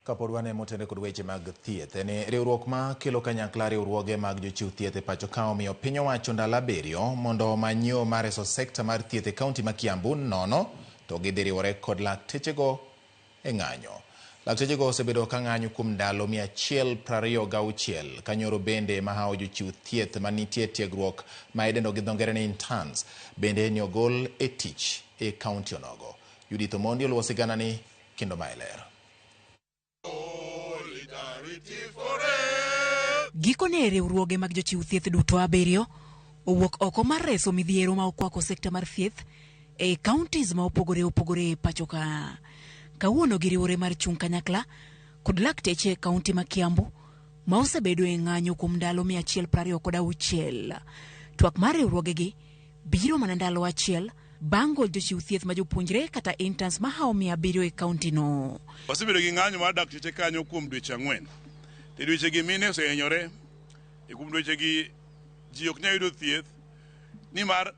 Kapod wan e motenre kod weche mag thieth en ni riwruok ma kelo kanyakla riwruoge mag jochiw thieth e pacho ka omiyo piny owacho ndalo abiriyo mondo omany yo mar reso sekta mar thieth e kaunti ma Kiambu nono to gidhi riwore kod laktechego e ng'anyo. Laktechego osebedo ka ng'anyo kuom ndalo mia achiel prariyo gauchiel ka nyoro bende mahawo jochiw thieth ma nitie tiegruok ma idendo gi dho ngere ni interns bende ni ogol e tich e kaunti onogo. Judith Omondi oluwo siganani kendo mae ler. Gikone riwruoge mag jochiw thieth duto abiriyo owuok oko mar reso midhiero ma okwako sekta mar thieth e counties ma opogore opogore e pacho ka. Kawuono giriwore mar chung' kanyakla kod lakteche e kaunti ma Kiambu ma osebedo e ng'anyo kuom ndalo mia achiel prariyo kod auchiel. Twak mar riwruogegi biro mana ndalo achiel bang' gol jochiw thieth ma jopuonjre kata interns ma hawo mia abiriyo e kauntino. Wasebedo gi ng'anyo mar dakteche kanyo kuom dweche ang'wen. E dwechegi mine osehinyore, e kuom dwechegi ji ok nyal yudo thieth nimar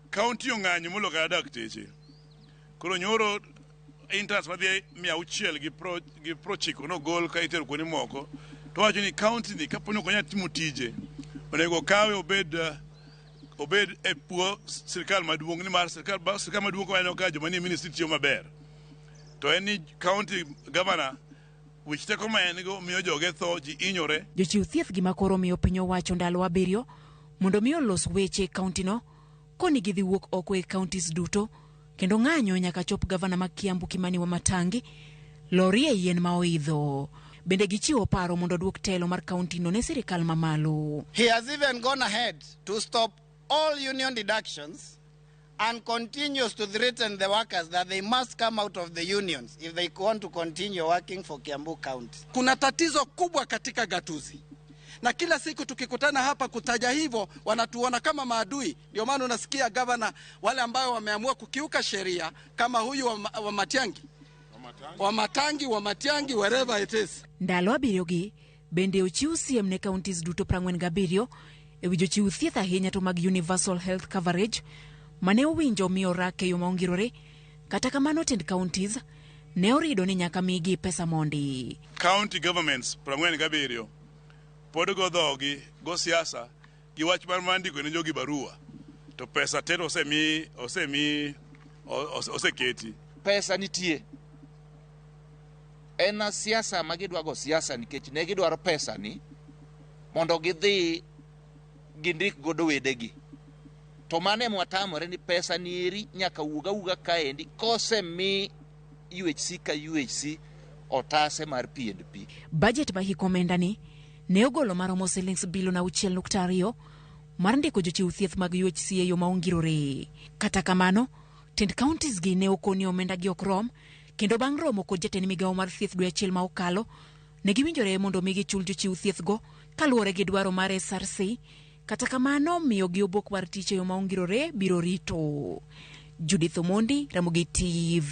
kaunti ong'anyo molo kata dakteche. Koro nyoro interns madhi mia auchiel gi pro- gi prochiko nogol ka itero kuonde moko to wacho ni kaunti ni kaponi ok onyal timo tije onego okawe obed eh, obed e puo sirkal maduong' nimar sirkal ba- sirkal maduong' ka waneno ka joma nie ministry tiyo maber to en ni county governor wich teko ma en go miyo joge tho ji inyore Jochiw thieth gima koro miyo piny owacho ndalo abiriyo mondo mi olos weche e kauntino koni gidhi wuok oko e counties duto kendo ng'anyo nyaka chop gavana ma Kiambu Kimani Wamatangi lorie yien ma oidho. Bende gichiwo paro mondo odwok telo mar kauntino ne sirikal mamalo. He has even gone ahead to stop all union deductions and continues to threaten the workers that they must come out of the unions if they want to continue working for Kiambu County. Kuna tatizo kubwa katika gatuzi, na kila siku tukikutana hapa kutaja hivyo, wanatuona kama maadui. Ndio maana unasikia gavana wale ambayo wameamua kukiuka sheria kama huyu wa, wa Matiangi wa Matangi wa Matiangi wherever it is. Ndalo abiriyogi bende ochiw siem ne counties duto 47 e wi jochiw thieth ahinya to mag universal health coverage mane owinjo mi orak e yo ma ongirore kata kamano tend counties ne orido ni nyaka migi pesa mondi County governments 47 pod go dhogi go siasa Gi wach mar mar ndiko ne jogi barua to pesa tero osemi osemi ose- oseketi pesa nitie en a siasa ma gidwago siasa nikech ne gidwaro pesa ni mondo gidhi gindik godo wedegi to mano ema watamore ni pesa ni eri nyaka wuog awuga kaendi kosemi UHC ka UHC otase mar PNP Bajet ma hik omendani ne ogolo maromo silings bilion auchiel nukta ariyo mar ndiko jochiw thieth mag UHC e yo ma ongirore. Kata kamano, tend counties gi ne okoni omenda gi ok rom kendo bang' romo kod jatend migawo mar thieth dwe achiel ma okalo, ne giwinjore mondo omi gichul jochiw thieth go kaluwore gi dwaro mar SRC, kata kamano miyo gi obok mar tich e yo ma ongirore biro rito. Judith Omondi, Ramogi TV.